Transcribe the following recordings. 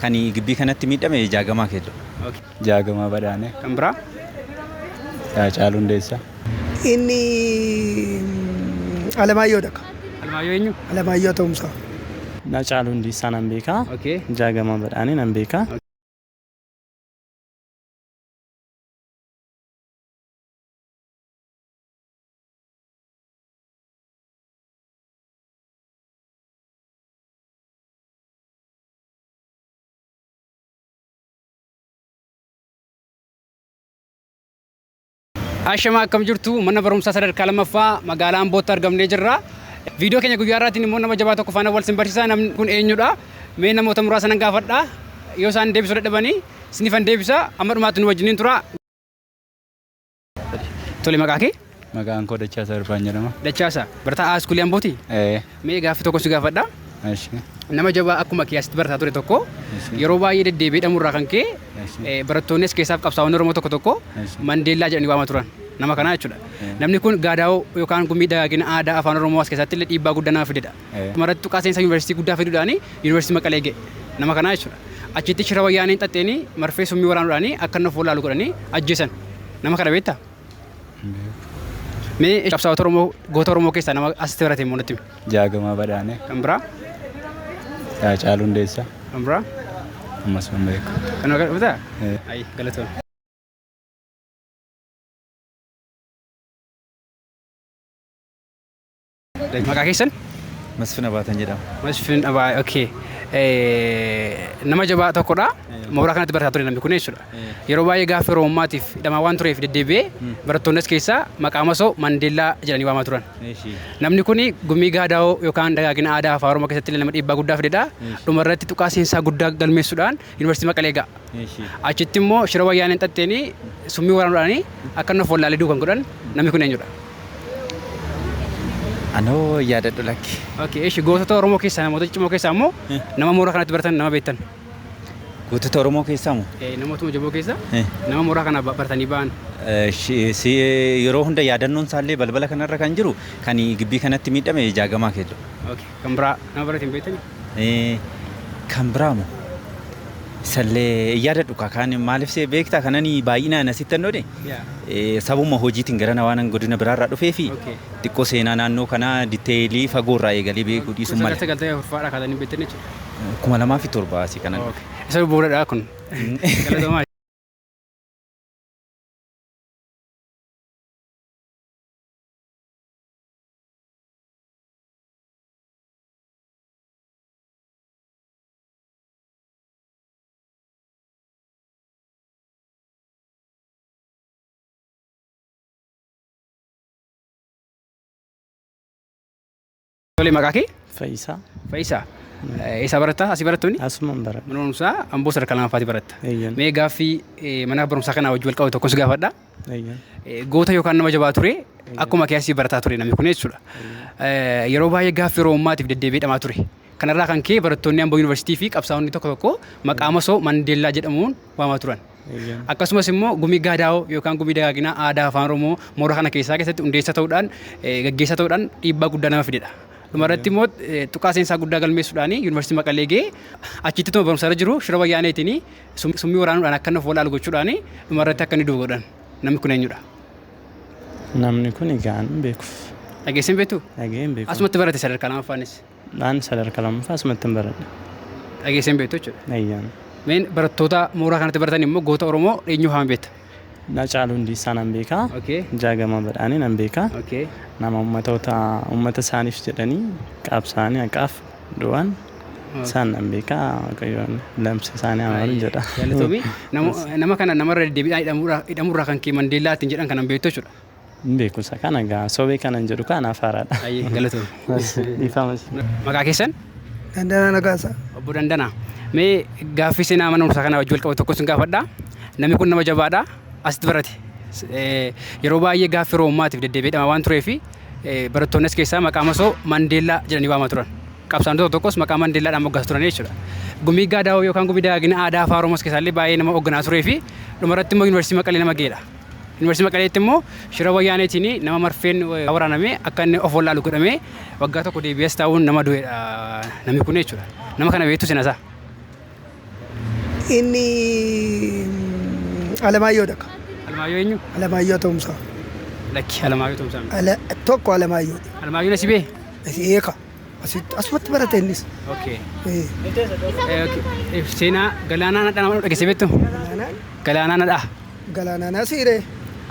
Kani gibbii kanatti miidhame Jaagamaa Keelloo. Jaagamaa Badhaanee. Kan biraa? Haacaaluu Hundeessaa. Inni Alamaayyoo dha. Alamaayyoo eenyu? Alamaayyoo Atoomsaa. Haacaaluu Hundeessaa nan beeka. Jaagamaa Badhaanee nan beeka. Ashamaa akkam jirtu mana barumsaa sadarkaa lammaffaa magaalaa Ambootti argamnee jirra. Viidiyoo keenya guyyaa irraatiin immoo nama jabaa tokko faana wal sin barsiisa. Namni kun eenyudha? Mee namoota muraasa nan gaafadha. Yoo isaan deebisuu dadhabanii sinifan deebisa. Amma dhumaatti nu wajjiniin tura. Tole maqaa kee? Maqaan koo Dachaasaa Irfaan jedhama. Dachaasaa barataa A iskuulii Ambooti? Ee, Mee gaaffii tokko si gaafadha. ashi, Nama jabaa akkuma kee asitti barataa ture tokko Eessi. yeroo baay'ee deddeebi'ee dhamurraa kan ka'e Eessi. eh, barattoonnis keessaaf qabsaa'onni Oromoo tokko tokko Eessi. Mandeellaa jedhanii waama turan. Nama kanaa jechuudha. Namni kun gaadaa'oo yookaan gummii dagaagina aadaa afaan Oromoo as keessatti illee dhiibbaa guddaa nama fidedha. Maratti tuqaa seensa Yuunivarsiitii guddaa fiduudhaan Yuunivarsiitii Maqalee ga'e. Nama kanaa jechuudha. Achitti shira wayyaaneen xaxxeen marfee summii waraanuudhaan akka inni of wallaalu godhanii ajjeesan. Nama kana beektaa? Mee qabsaa'ota Oromoo goota Oromoo keessaa nama asitti barate immoo natti himi. Jaagamaa Badhaanee. Kan biraa? Haacaaluu Hundeessaa. Kan biraa? Ammas hin beeku. Kan maqaa dhuftaa? Ayi galatoon. Maqaa keessan? Masfin Abaatan jedhama. Masfin Abaa, okay. Nama jabaa tokkodha. Mooraa kanatti barataa ture namni kun jechuudha. Yeroo baay'ee gaaffii Oromummaatiif hidhamaa waan tureef deddeebi'ee barattoonnis keessaa maqaa masoo Mandeellaa jedhanii waamaa turan. Namni kun gumii gaadaa'oo yookaan dagaagina aadaa afaan Oromoo keessatti illee nama dhiibbaa guddaa fidedha. Dhumarratti tuqaa seensaa guddaa galmeessuudhaan Yuunivarsiitii Maqalee ga'a. Eeshi. Achitti immoo shira wayyaaneen xaxxeenii summii waraanuudhaanii akka inni of wallaalee du'u kan godhan namni kun eenyudha? Anoo yaadadhu lakki. Okay, eeshi gootota Oromoo keessaa namoota ciccimoo keessaa immoo Eh. nama mooraa kanatti baratan nama beektan. Gootota Oromoo keessaa moo? Eh, Namootuma jaboo keessa Eh. nama mooraa kana ba- baratanii ba'an. Eh, shi- si- eh, Yeroo hunda yaadannoon isaallee balbala kanarra kan jiru kan gibbii kanatti miidhame jaagamaa keelloo. Okay. Kan biraa nama biratiin beektani? Ee, kan biraa moo? Sallee yaadadhu kaa kaan maaliif see beektaa kanani baay'inaan asitti annoo de Yaa. ee, sabuma hojiitiin garana waanan godina biraarraa dhufee fi Okay. xiqqoo seenaa naannoo kanaa diteelii fagoorraa eegalee beekuu dhiisuun Kun malee sagal ta'e furfaadha kaatanii beektan jechuudha. kuma lamaa fi torba asii kanan dhufe. Okay. Isa bu'uuradha kun. Galatoomaa. Tole maqaa kee? Fayyisaa. Fayyisaa. Eessaa baratta? Asii barattuuni? Asumaan baradha. Mana barumsaa Amboo sadarkaa lammaffaati baratta. Eeyyeen. Mee gaaffii eh, mana barumsaa kanaa wajjin wal qabatu tokkos gaafadha. Goota yookaan nama jabaa ture akkuma kee asii barataa ture namni kun jechuudha. Yeroo baay'ee gaaffii Oromummaatiif deddeebi'ee dhamaa ture. Kanarraa kan ka'e barattoonni Amboo Yuunivarsiitii fi qabsaa'onni tokko tokko maqaa masoo Mandeellaa jedhamuun waamaa turan. Akkasumas immoo gumii gaadaa'oo yookaan gumii dagaaginaa aadaa afaan Oromoo moora kana keessaa keessatti hundeessaa ta'uudhaan gaggeessaa ta'uudhaan dhiibbaa guddaa nama fidedha. Dhumarratti immoo tuqaa seensaa guddaa galmeessuudhaan Yuunivarsiitii Maqalee ga'ee achitti tuma barumsa irra jiru shira wayyaaneetiin Summii waraanuudhaan akka inni of wal'aalu gochuudhaan dhuma irratti akka inni du'u godhan. Namni kun eenyudha? Namni kun egaa hin beeku. Dhageessee hin beektu? Dhaga'ee hin beeku. Asumatti barate sadarkaa lamaffaanis. Dhaan sadarkaa lammaffaa asumatti hin baradhe. Dhageessee hin beektu jechuudha. Eeyyaan. Meen barattoota mooraa kanatti baratan immoo goota Oromoo eenyu fa'aan beekta? Hacaaluu Hundeessaa nan beeka. Okay. Jaagamaa Badhaanee nan beeka. Okay. Nama ummatoota ummata isaaniif jedhanii qabsaa'anii haqaaf du'an isaan nan beeka. Waaqayyoon lamsa isaanii haa maru jedha. Galatoomii. Nama, nama kana namarra deddeebiidhaan hidhamuurraa hidhamuurraa kan kee Mandeellaa ittiin jedhan kanan beektu jechuudha. Hin beeku isa kana egaa sobee kanan jedhu kaa anaaf haaraadha. Ayyee galatoomi. Eshi dhiifama isin. Maqaa keessan? Dandanaa Nagaasaa. Obbo Dandanaa, mee gaaffii seenaa mana barumsaa kanaa wajjin wal qabatu tokko sin gaafadha. Namni kun nama jabaadha. Asitti barate. S- eh, Yeroo baay'ee gaaffii Oromummaatiif deddeebi'ee dhama waan tureef eh, barattoonnis keessaa maqaa masoo Mandeellaa jedhanii waamaa turan. Qabsaa'onni tokko tokkos maqaa Mandeellaadhaan moggaasu turan jechuudha. Gumii Gaadaawoo yookaan gumii dagaagina aadaa afaa Oromoos keessaallee baay'ee nama hoogganaa turee fi dhumarratti immoo yuunivarsiitii Maqalee nama ga'eedha. Yuunivarsiitii Maqaleetti immoo shira wayyaaneetiin nama marfeen waraanamee akka inni of wallaalu godhamee waggaa tokko deebi'ees taa'uun nama du'edha namni kun jechuudha. Nama kana beektu seenasaa. Inni Alamaayyoo dhaqa. Alamaayyoo eenyu? Alamaayyoo Toomsaa. Lakki Alamaayyoo Toomsaa. Ala, tokko Alamaayyoo. Alamaayyoo Nasibee? Eeka. Asitti asumatti barate innis. Okay. Eh, Eh, okay. Eh, Seenaa galaanaa nadhaa nama dhageessee beektu? Galaanaan Galaanaa nadhaa. galaanaan asiiree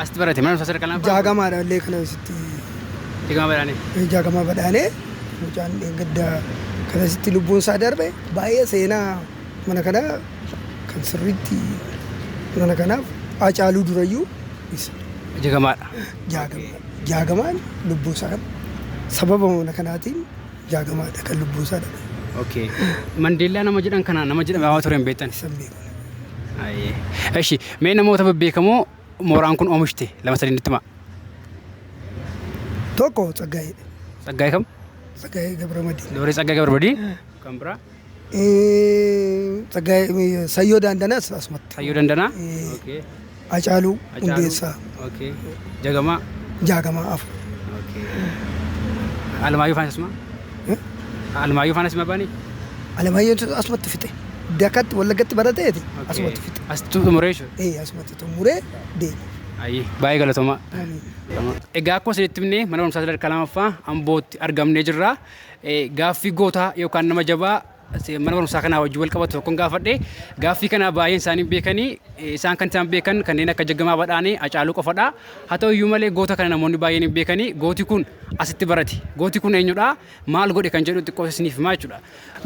Asitti barate mana barumsaa sadarkaa lama. jaagamaadha illee kana asitti Jaagamaa baraane. eh, jaagamaa badhaanee mucaan gadda kana asitti lubbuun isaa darbe baay'ee seenaa mana kanaa kan sirriitti mana kanaaf Haacaaluu durayyuu isa Jaagamaadha. jaagama. Jaagamaan lubbuu isaa dhabe. Sababa mana kanaatiin Jaagamaadha kan lubbuu isaa dhabe. Okay. Mandeellaa nama jedhan kana nama jedhame hawa ture hin beektan. Isan beeku. Ayyee. Eshi mee namoota bebbeekamoo mooraan kun oomishte lama sadii nutti himaa. Tokko Tsaggaayee. Tsaggaayee kam? Tsaggaayee Gabramadiin. Dooree Tsaggaayee Gabramadiin. Kan biraa? Sayyoo Daandanaas asumatti. Sayyoo Dandanaa? Okay. Acaaluu Hacaaluu? Hundeessaa Okay. Jagamaa? Jaagamaa Afur. Okay. Alamaayyoo faanas asuma? Eh? Alamaayyoo faanas asuma baanii? Alamaayyoon asumatti fixe. Dakatti Wallaggatti barateeti Okay. asumatti fixe. As xumuree jechuudha. Ee asumatti xumuree deema. Ayyee baay'ee galatoomaa. Egaa akkuma isinitti himne mana barumsaa sadarkaa lamaffaa Ambootti argamnee jirra. Gaaffii goota yookaan nama jabaa mana barumsaa kanaa wajjin wal qabatu tokkon gaafadhe. Gaaffii kana baay'een isaanii beekanii isaan kan isaan beekan kanneen akka Jaggamaa Badhaanee, Hacaaluu qofadha. Haa ta'u iyyuu malee goota kana namoonni baay'een hin beekanii gooti kun asitti barate. Gooti kun eenyudha? Maal godhe kan jedhu xiqqoo isiniif himaa jechuudha.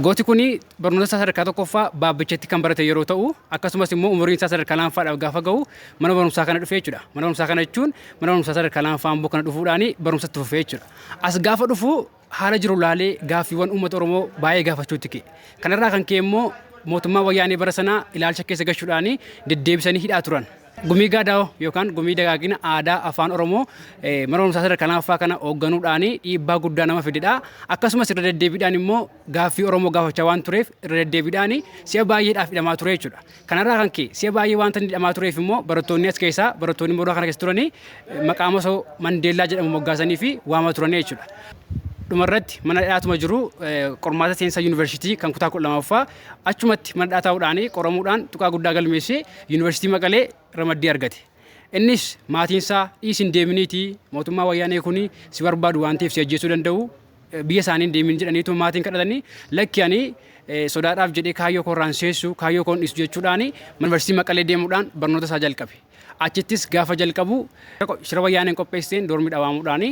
Gooti kun barnoota isaa sadarkaa tokkoffaa Baabbichatti kan barate yeroo ta'u akkasumas immoo umuriin isaa sadarkaa lamaffaadhaaf gaafa ga'u mana barumsaa kana dhufe jechuudha. Mana barumsaa kana jechuun mana barumsaa sadarkaa lamaffaa Amboo kana dhufuudhaan barumsa itti fufe jechuudha. As gaafa dhufu haala jiru laalee gaaffiiwwan uummata Oromoo baay'ee gaafachuutti ka'e. Kanarraa kan ka'e immoo mootummaa wayyaanee bara sanaa ilaalcha keessa gashuudhaan deddeebisanii hidhaa turan. Gumii Gaadaawoo yookaan gumii dagaagina aadaa afaan Oromoo eh, mana barumsaa sadarkaa lamaffaa kana hoogganuudhaan dhiibbaa guddaa nama fidedha. Akkasumas irra deddeebiidhaan immoo gaaffii Oromoo gaafachaa waan tureef irra deddeebiidhaan si'a baay'eedhaaf hidhamaa ture jechuudha. Kanarraa kan ka'e si'a baay'ee waanta inni hidhamaa tureef immoo barattoonni as keessaa barattoonni mooraa kana keessa turanii maqaa masoo Mandeellaa jedhamu moggaasanii fi waamaa turanii jechuudha. Dhumarratti mana hidhaatuma jiru qormaata seensa yuunivarsiitii kan kutaa kudha lamaffaa achumatti mana hidhaa taa'uudhaan qoramuudhaan tuqaa guddaa galmeessee yuunivarsiitii Maqalee ramaddii argate. Innis maatiinsaa dhiis hin deeminiitii mootummaa wayyaanee kun si barbaadu waan ta'eef si ajjeesuu danda'u biyya isaanii hin deemin jedhaniitu maatiin kadhatanii lakki ani sodaadhaaf jedhee kaayyoo koorraan seessu kaayyoo koon dhiisu jechuudhaan yuunivarsiitii Maqalee deemuudhaan barnoota isaa jalqabe. Achittis gaafa jalqabu shira wayyaaneen qopheesseen doormii dhawaamuudhaan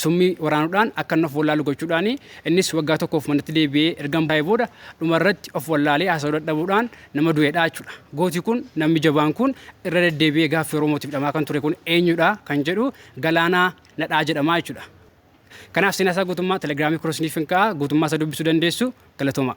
summii waraanuudhaan akka inni of wallaalu gochuudhaan innis waggaa tokkoof manatti deebi'ee ergan baay'ee booda dhumarratti of wallaalee haasa'uu dadhabuudhaan nama du'eedha jechuudha. Gooti kun namni jabaan kun irra deddeebi'ee gaaffii Oromootiif dhamaa kan ture kun eenyudha kan jedhu Galaanaa Nadhaa jedhama jechuudha. Kanaaf seenaa isaa guutummaa Telegram koo isiniifin kaa'a guutummaa isaa dubbisuu dandeessu. Galatoomaa.